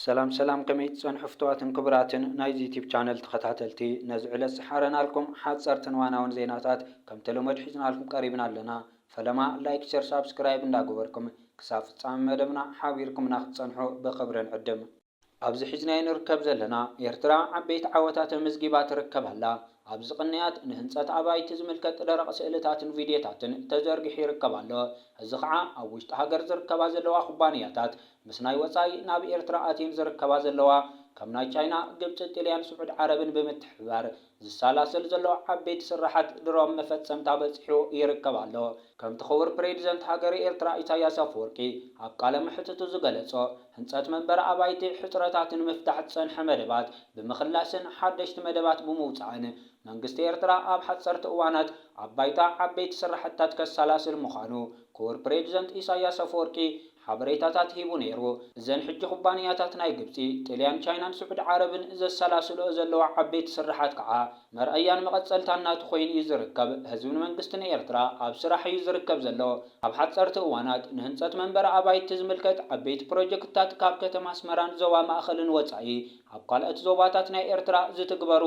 ሰላም ሰላም ከመይ ትጸንሑ ፍቱዋትን ክቡራትን ናይዚ ዩቱብ ቻነል ተኸታተልቲ ነዚ ዕለት ዝሓረናልኩም ሓጸርትን ዋናውን ዜናታት ከምተለመዱ ሒዝናልኩም ቀሪብና ኣለና ፈለማ ላይክ ሸር ሳብስክራይብ እንዳገበርኩም ክሳብ ፍጻመ መደብና ሓቢርኩምና ክትጸንሑ ብኽብሪ ንዕድም። ኣብዚ ሒዝናዮ ንርከብ ዘለና ኤርትራ ዓበይቲ ዓወታት ኣመዝጊባ ትርከብ ኣላ። ኣብዚ ቅንያት ንህንጸት ኣባይቲ ዝምልከት ደረቕ ስእልታትን ቪድዮታትን ተዘርጊሑ ይርከብ ኣሎ። እዚ ኸኣ ኣብ ውሽጢ ሃገር ዝርከባ ዘለዋ ኩባንያታት፣ ምስ ናይ ወጻኢ ናብ ኤርትራ ኣትየን ዝርከባ ዘለዋ ከም ናይ ቻይና፣ ግብጺ፣ ጥልያን፣ ስዑድ ዓረብን ብምትሕብባር ዝሳላሰል ዘሎ ዓበይቲ ስርሓት ድሮም መፈጸምታ በጺሑ ይርከብ ኣሎ። ከምቲ ክቡር ፕሬዲዘንት ሃገረ ኤርትራ ኢሳያስ ኣፈወርቂ ኣብ ቃለ መሕትቱ ዝገለጾ ህንጸት መንበሪ ኣባይቲ ሕጽረታት ንምፍታሕ ዝጸንሐ መደባት ብምክላስን ሓደሽቲ መደባት ብምውጻእን መንግስቲ ኤርትራ ኣብ ሓጸርቲ እዋናት ኣብ ባይታ ዓበይቲ ስራሕትታት ከሳላስል ምዃኑ ክቡር ፕሬዲዘንት ኢሳያስ ኣፈወርቂ ሓበሬታታት ሂቡ ነይሩ። እዘን ሕጂ ኩባንያታት ናይ ግብጺ፣ ጥልያን፣ ቻይናን ስዑዲ ዓረብን ዘሰላስልኦ ዘለዋ ዓበይቲ ስርሓት ከኣ መርኣያን መቐጸልታን ናቱ ኮይኑ እዩ ዝርከብ። ህዝብን መንግስትን ኤርትራ ኣብ ስራሕ እዩ ዝርከብ ዘሎ። ኣብ ሓጸርቲ እዋናት ንህንጸት መንበሪ ኣባይቲ ዝምልከት ዓበይቲ ፕሮጀክትታት ካብ ከተማ ኣስመራን ዞባ ማእከልን ወጻኢ ኣብ ካልኦት ዞባታት ናይ ኤርትራ ዝትግበሩ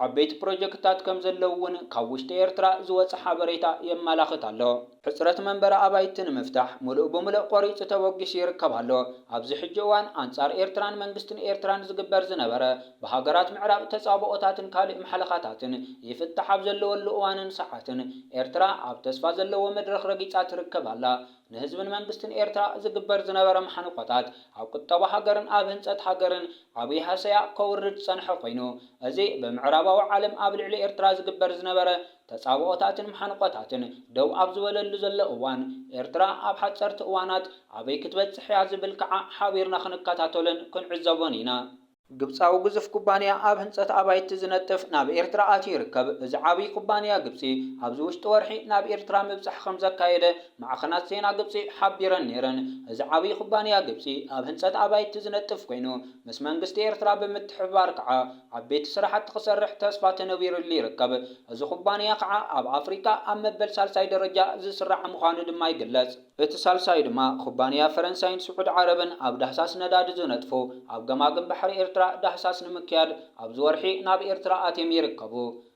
ዓበይቲ ፕሮጀክትታት ከምዘለዉ'ውን ካብ ውሽጢ ኤርትራ ዝወጸ ሓበሬታ የመላኽት ኣሎ። ሕጽረት መንበሪ ኣባይቲ ንምፍታሕ ምሉእ ብምሉእ ቆሪጹ ተበጊሱ ይርከብ ኣሎ። ኣብዚ ሕጂ እዋን ኣንጻር ኤርትራን መንግስትን ኤርትራን ዝግበር ዝነበረ ብሃገራት ምዕራብ ተጻብኦታትን ካልእ ማሕለኻታትን ይፍታሕ ኣብ ዘለወሉ እዋንን ሰዓትን ኤርትራ ኣብ ተስፋ ዘለዎ መድረኽ ረጊጻ ትርከብ ኣላ። ንህዝብን መንግስትን ኤርትራ ዝግበር ዝነበረ ማሕንቆታት ኣብ ቁጠባ ሃገርን ኣብ ህንጸት ሃገርን ዓቢ ሃሰያ ከውርድ ዝጸንሐ ኮይኑ እዚ ብምዕራባዊ ዓለም ኣብ ልዕሊ ኤርትራ ዝግበር ዝነበረ ተጻብኦታትን መሓንቖታትን ደው ኣብ ዝበለሉ ዘሎ እዋን፣ ኤርትራ ኣብ ሓጸርቲ እዋናት ኣበይ ክትበጽሕ እያ ዝብል ከኣ ሓቢርና ክንከታተሎን ክንዕዘቦን ኢና። ግብጻዊ ግዙፍ ኩባንያ ኣብ ህንጸት ኣባይቲ ዝነጥፍ ናብ ኤርትራ ኣትዩ ይርከብ። እዚ ዓብዪ ኩባንያ ግብጺ፣ ኣብዚ ውሽጢ ወርሒ ናብ ኤርትራ ምብጻሕ ከም ዘካየደ ማዕኸናት ዜና ግብጺ ሓቢረን ነይረን። እዚ ዓብዪ ኩባንያ ግብጺ ኣብ ህንጸት ኣባይቲ ዝነጥፍ ኮይኑ፣ ምስ መንግስቲ ኤርትራ ብምትሕብባር ከኣ፣ ዓበይቲ ስራሕቲ ክሰርሕ ተስፋ ተነቢሩሉ ይርከብ። እዚ ኩባንያ ከዓ ኣብ ኣፍሪካ ኣብ መበል ሳልሳይ ደረጃ ዝስራዕ ምዃኑ ድማ ይግለፅ። እቲ ሳልሳይ ድማ ኩባንያ ፈረንሳይን ስዑድ ዓረብን ኣብ ዳህሳስ ነዳዲ ዝነጥፉ ኣብ ገማግም ባሕሪ ኤርትራ ዳህሳስ ንምክያድ ኣብዚ ወርሒ ናብ ኤርትራ ኣትዬም ይርከቡ።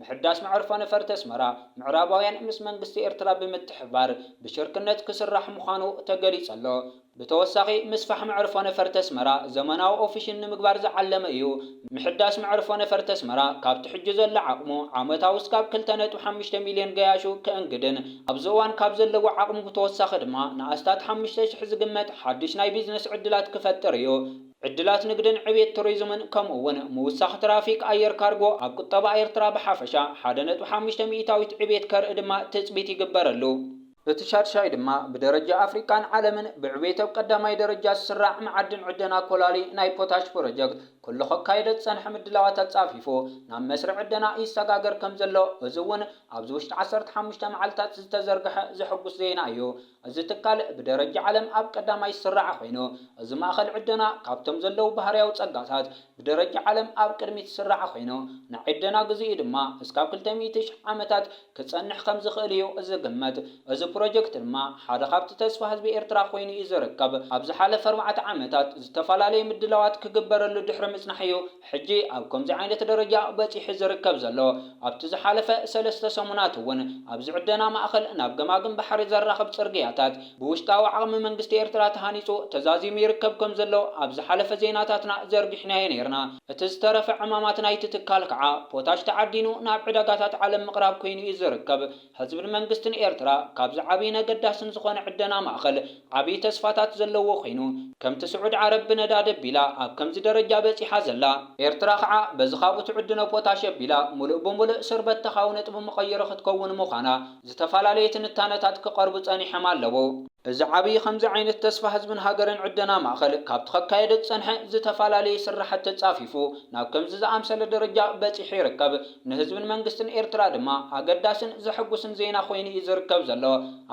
ምሕዳስ መዕርፎ ነፈርቲ ኣስመራ፣ ምዕራባውያን ምስ መንግስቲ ኤርትራ ብምትሕብባር ብሽርክነት ክስራሕ ምዃኑ ተገሊጹ ኣሎ። ብተወሳኺ ምስፋሕ መዕርፎ ነፈርቲ ኣስመራ ዘመናዊ ኦፊሽን ንምግባር ዝዓለመ እዩ። ምሕዳስ መዕርፎ ነፈርቲ ኣስመራ ካብቲ ሕጂ ዘሎ ዓቕሙ ዓመታዊ ስጋብ ክልተ ነጥቢ ሓሙሽተ ሚልዮን ገያሹ ከእንግድን ኣብዚ እዋን ካብ ዘለዎ ዓቕሙ ብተወሳኺ ድማ ንኣስታት ሓሙሽተ ሽሕ ዝግመት ሓድሽ ናይ ቢዝነስ ዕድላት ክፈጥር እዩ። ዕድላት ንግድን ዕብየት ቱሪዝምን ከምኡ እውን ምውሳኽ ትራፊክ ኣየር ካርጎ ኣብ ቁጠባ ኤርትራ ብሓፈሻ ሓደ ነጥቢ ሓሙሽተ ሚኢታዊት ዕብየት ከርኢ ድማ ትፅቢት ይግበረሉ። እቲ ሻድሻይ ድማ ብደረጃ ኣፍሪቃን ዓለምን ብዕብየት ኣብ ቀዳማይ ደረጃ ዝስራዕ መዓድን ዕደና ኮላሊ ናይ ፖታሽ ፕሮጀክት ኩሉ ከካየዶ ዝፀንሐ ምድላዋት ኣፃፊፉ ናብ መስርዕ ዕደና ይሰጋገር ከምዘሎ እዚ እውን ኣብዚ ውሽጢ ዓሰርተ ሓሙሽተ መዓልታት ዝተዘርገሐ ዘሕጉስ ዜና እዩ። እዚ ትካል ብደረጃ ዓለም ኣብ ቀዳማይ ዝስራዕ ኾይኑ፣ እዚ ማእኸል ዕደና ካብቶም ዘለዉ ባህርያዊ ፀጋታት ብደረጃ ዓለም ኣብ ቅድሚት ዝስራዕ ኾይኑ፣ ናይ ዕደና ግዜኡ ድማ እስካብ ክልተ ሚእቲ ሽሕ ዓመታት ክፀንሕ ከም ዝኽእል እዩ ዝግመት። እዚ ፕሮጀክት ድማ ሓደ ካብቲ ተስፋ ህዝቢ ኤርትራ ኾይኑ እዩ ዝርከብ። ኣብ ዝሓለፈ ኣርባዕተ ዓመታት ዝተፈላለየ ምድላዋት ክግበረሉ ድሕሪ ምፅናሕ እዩ፣ ሕጂ ኣብ ከምዚ ዓይነት ደረጃ በጺሑ ዝርከብ ዘሎ፣ ኣብቲ ዝሓለፈ ሰለስተ ሰሙናት እውን ኣብዚ ዕደና ማእከል ናብ ገማግም ባሕሪ ዘራኽብ ጽርግያታት ብውሽጣዊ ዓቕሚ መንግስቲ ኤርትራ ተሃኒጹ ተዛዚሙ ይርከብ ከም ዘሎ ኣብ ዝሓለፈ ዜናታትና ዘርጊሕናዮ ነይርና። እቲ ዝተረፈ ዕማማት ናይቲ ትካል ከኣ ፖታሽ ተዓዲኑ ናብ ዕዳጋታት ዓለም ምቕራብ ኮይኑ እዩ ዝርከብ። ህዝብን መንግስትን ኤርትራ ካብዚ ዓብይን ኣገዳስን ዝኾነ ዕደና ማእኸል ዓብይ ተስፋታት ዘለዎ ኮይኑ፣ ከምቲ ስዑድ ዓረብ ብነዳዲ ኣቢላ ኣብ ከምዚ ደረጃ በፂሓ ዘላ፣ ኤርትራ ኻዓ በዚ ካብኡ ትዕድኖ ፖታሽ ኣቢላ ሙሉእ ብሙሉእ ስርበተኻዊ ነጥቢ መቐይሮ ክትከውን ምዃና ዝተፈላለየ ትንታነታት ክቐርቡ ፀኒሐም ኣለዉ። እዚ ዓብይ ኸምዚ ዓይነት ተስፋ ህዝብን ሃገርን ዕደና ማእኸል ካብቲ ከካየዶ ዝፀንሐ ዝተፈላለየ ስራሕቲ ፃፊፉ ናብ ከምዚ ዝኣምሰለ ደረጃ በፂሑ ይርከብ። ንህዝብን መንግስትን ኤርትራ ድማ ኣገዳስን ዘሐጉስን ዜና ኮይኑ እዩ ዝርከብ ዘሎ።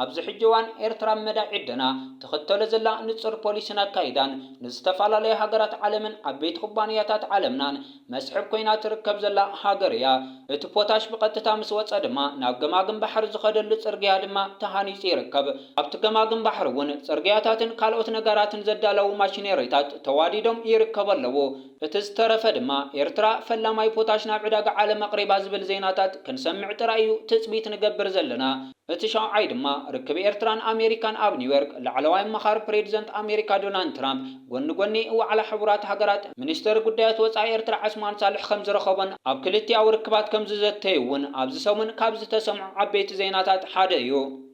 ኣብዚ ሕጂ እዋን ኤርትራ ኣብ መዳይ ዕደና ትኽተሎ ዘላ ንጹር ፖሊስን ኣካይዳን ንዝተፈላለያ ሃገራት ዓለምን ዓበይቲ ኩባንያታት ዓለምናን መስሕብ ኮይና ትርከብ ዘላ ሃገር እያ። እቲ ፖታሽ ብቐጥታ ምስ ወጸ ድማ ናብ ገማግም ባሕሪ ዝኸደሉ ጽርግያ ድማ ተሃኒጹ ይርከብ። ኣብቲ ገማግም ባሕሪ እውን ጽርግያታትን ካልኦት ነገራትን ዘዳለዉ ማሽነሪታት ተዋዲዶም ይርከቡ ኣለዉ። እቲ ዝተረፈ ድማ ኤርትራ ፈላማይ ፖታሽ ናብ ዕዳጋ ዓለም ኣቕሪባ ዝብል ዜናታት ክንሰምዕ ጥራይ እዩ ትጽቢት ንገብር ዘለና። እቲ ሻውዓይ ድማ ርክብ ኤርትራን ኣሜሪካን ኣብ ኒውዮርክ ላዕለዋይ ኣማኻሪ ፕሬድዘንት ኣሜሪካ ዶናልድ ትራምፕ ጎኒ ጎኒ ዋዕላ ሕቡራት ሃገራት ሚኒስተር ጉዳያት ወጻኢ ኤርትራ ዐስማን ሳልሕ ከምዝረኸቦን ኣብ ክልቲኣዊ ርክባት ከምዝዘተዩ'ውን ኣብዚ ሰሙን ካብ ዝተሰምዑ ዓበይቲ ዜናታት ሓደ እዩ።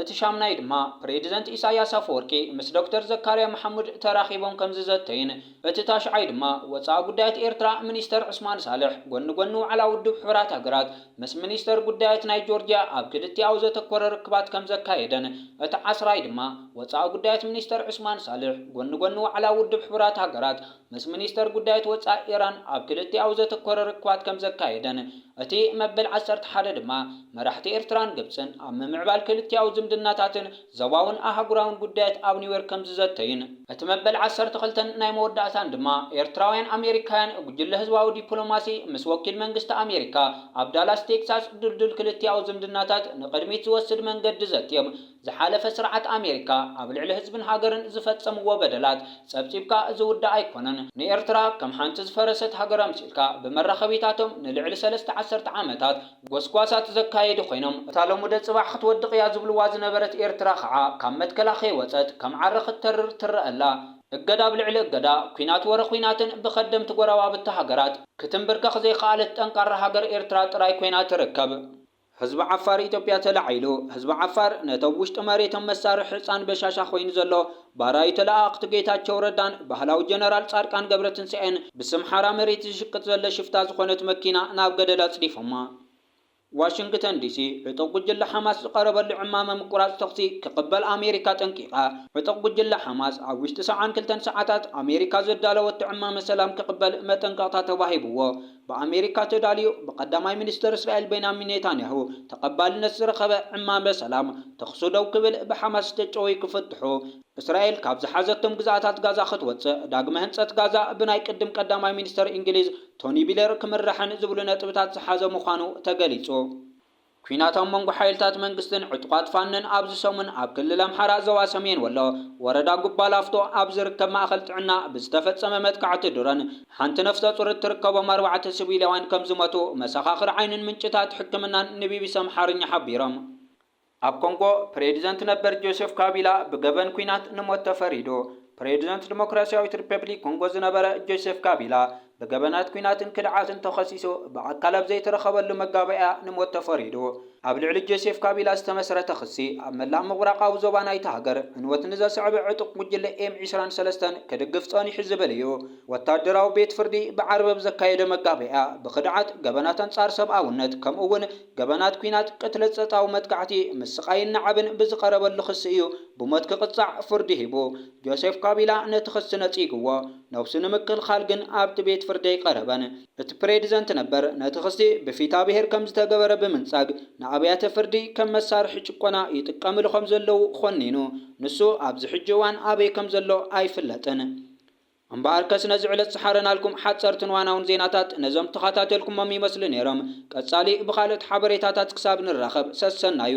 እቲ ሻምናይ ድማ ፕሬዚደንት ኢሳይያስ ኣፈወርቂ ምስ ዶክተር ዘካርያ መሓሙድ ተራኺቦም ከምዝዘተዩን እቲ ታሽዓይ ድማ ወፃኢ ጉዳያት ኤርትራ ሚኒስተር ዑስማን ሳልሕ ጎኒ ጎኒ ዋዕላ ውድብ ሕቡራት ሃገራት ምስ ሚኒስተር ጉዳያት ናይ ጆርጂያ ኣብ ክልቲኣዊ ዘተኮረ ርክባት ከምዘካየደን እቲ ዓስራይ ድማ ወፃኢ ጉዳያት ሚኒስተር ዑስማን ሳልሕ ጎኒ ጎኒ ዋዕላ ውድብ ሕቡራት ሃገራት ምስ ሚኒስተር ጉዳያት ወጻኢ ኢራን ኣብ ክልቲኣዊ ዘተኮረ ርክባት ከም ዘካየደን፣ እቲ መበል ዓሰርተ ሓደ ድማ መራሕቲ ኤርትራን ግብጽን ኣብ ምምዕባል ክልቲኣዊ ዝምድናታትን ዞባውን ኣህጉራውን ጉዳያት ኣብ ኒውዮርክ ከም ዝዘተዩን፣ እቲ መበል ዓሰርተ ክልተን ናይ መወዳእታን ድማ ኤርትራውያን ኣሜሪካውያን ጉጅለ ህዝባዊ ዲፕሎማሲ ምስ ወኪል መንግስቲ ኣሜሪካ ኣብ ዳላስ ቴክሳስ ድልዱል ክልቲኣዊ ዝምድናታት ንቕድሚት ዝወስድ መንገዲ ዘትዮም ዝሓለፈ ስርዓት ኣሜሪካ ኣብ ልዕሊ ህዝብን ሃገርን ዝፈጸምዎ በደላት ጸብጺብካ ዝውዳእ ኣይኮነን። ንኤርትራ ከም ሓንቲ ዝፈረሰት ሃገር ኣምሲልካ ብመራኸቢታቶም ንልዕሊ ሰለስተ ዓሰርተ ዓመታት ጎስጓሳት ዘካየዱ ኮይኖም፣ እታ ሎሙደ ጽባሕ ክትወድቕ እያ ዝብልዋ ዝነበረት ኤርትራ ከኣ ካብ መትከላ ከይወጸት ከም ዓረ ክትተርር ትረኣ ኣላ። እገዳ ኣብ ልዕሊ እገዳ፣ ኩናት ወረ ኩናትን ብከደምቲ ጎረባብቲ ሃገራት ክትምብርከኽ ዘይከኣለት ጠንካራ ሃገር ኤርትራ ጥራይ ኮይና ትርከብ። ህዝቢ ዓፋር ኢትዮጵያ ተላዒሉ ህዝቢ ዓፋር ነቶም ውሽጢ መሬቶም መሳርሒ ህጻን በሻሻ ኮይኑ ዘሎ ባራዩ ተለኣኣኽቱ ጌታቸው ረዳን ባህላዊ ጀነራል ጻድቃን ገብረትንሳኤን ብስም ሓራ መሬት ዝሽቅጥ ዘሎ ሽፍታ ዝኾነት መኪና ናብ ገደል ኣጽዲፎማ። ዋሽንግተን ዲሲ ዕጡቕ ጉጅለ ሓማስ ዝቐረበሉ ዕማመ ምቁራጽ ተኹሲ ክቕበል ኣሜሪካ ኣጠንቂቓ ዕጡቕ ጉጅለ ሓማስ ኣብ ውሽጢ ሰብዓን ክልተን ሰዓታት ኣሜሪካ ዘዳለወቶ ዕማመ ሰላም ክቕበል መጠንቀቕታ ተዋሂብዎ ብኣሜሪካ ተዳልዩ ብቀዳማይ ሚኒስተር እስራኤል ቤንያሚን ኔታንያሁ ተቐባልነት ዝረኸበ ዕማመ ሰላም ተዅሲ ደው ክብል፣ ብሓማስ ዝተጨወዩ ክፍትሑ፣ እስራኤል ካብ ዝሓዘቶም ግዝኣታት ጋዛ ክትወጽእ፣ ዳግመ ህንጸት ጋዛ ብናይ ቅድም ቀዳማይ ሚኒስተር እንግሊዝ ቶኒ ቢለር ክምራሕን ዝብሉ ነጥብታት ዝሓዘ ምዃኑ ተገሊጹ። ኲናት ኣብ መንጎ ሓይልታት መንግስትን ዕጡቓት ፋኖን ኣብዚ ሰሙን ኣብ ክልል ኣምሓራ ዞባ ሰሜን ወሎ ወረዳ ጉባ ላፍቶ ኣብ ዝርከብ ማእኸል ጥዕና ብዝተፈፀመ መጥቃዕቲ ድሮን ሓንቲ ነፍሰፁር እትርከቦም ኣርባዕተ ስቪላውያን ከምዝሞቱ መሰኻኽር ዓይንን ምንጭታት ሕክምናን ንቢቢሲ ኣምሓርኛ ሓቢሮም። ኣብ ኮንጎ ፕሬዚደንት ነበር ጆሴፍ ካቢላ ብገበን ኲናት ንሞት ተፈሪዱ። ፕሬዚደንት ዲሞክራሲያዊት ሪፐብሊክ ኮንጎ ዝነበረ ጆሴፍ ካቢላ ብገበናት ኲናትን ክድዓትን ተኸሲሱ ብኣካል ኣብ ዘይተረኸበሉ መጋባእያ ንሞት ተፈሪዱ። ኣብ ልዕሊ ጆሴፍ ካቢላ ዝተመስረተ ክሲ፣ ኣብ መላእ ምብራቓዊ ዞባ ናይታ ሃገር ዕንወት ንዘስዐበ ዕጡቕ ጉጅለ ኤም ዕስራን ሰለስተን ክድግፍ ጸኒሑ ዝብል እዩ። ወተሃደራዊ ቤት ፍርዲ ብዓርቢ ኣብ ዘካየዶ መጋባእያ፣ ብኽድዓት፣ ገበናት ኣንጻር ሰብኣውነት፣ ከምኡ'ውን ገበናት ኲናት፣ ቅትለት፣ ጸጥታዊ መጥቃዕቲ፣ ምስቓይን ናዕብን ብዝቐረበሉ ክሲ እዩ ብሞት ክቕጻዕ ፍርዲ ሂቡ። ጆሴፍ ካቢላ ነቲ ክሲ ነጺግዎ፣ ነብሱ ንምክልኻል ግን ኣብቲ ቤት ፍርዲ ኣይቐረበን። እቲ ፕሬድዘንት ነበር፣ ነቲ ክሲ ብፊታብሄር ከም ዝተገበረ ብምንጻግ፣ ንኣብያተ ፍርዲ ከም መሳርሒ ጭቆና ይጥቀምሉ ከም ዘለዉ ኾኒኑ። ንሱ ኣብዚ ሕጂ እዋን ኣበይ ከም ዘሎ ኣይፍለጥን። እምበኣርከስ ነዚ ዕለት ዝሓረናልኩም ሓጸርትን ዋናውን ዜናታት ነዞም ተኻታተልኩሞም ይመስሉ ኔሮም። ቀጻሊ ብኻልኦት ሓበሬታታት ክሳብ ንራኸብ ሰሰናዩ።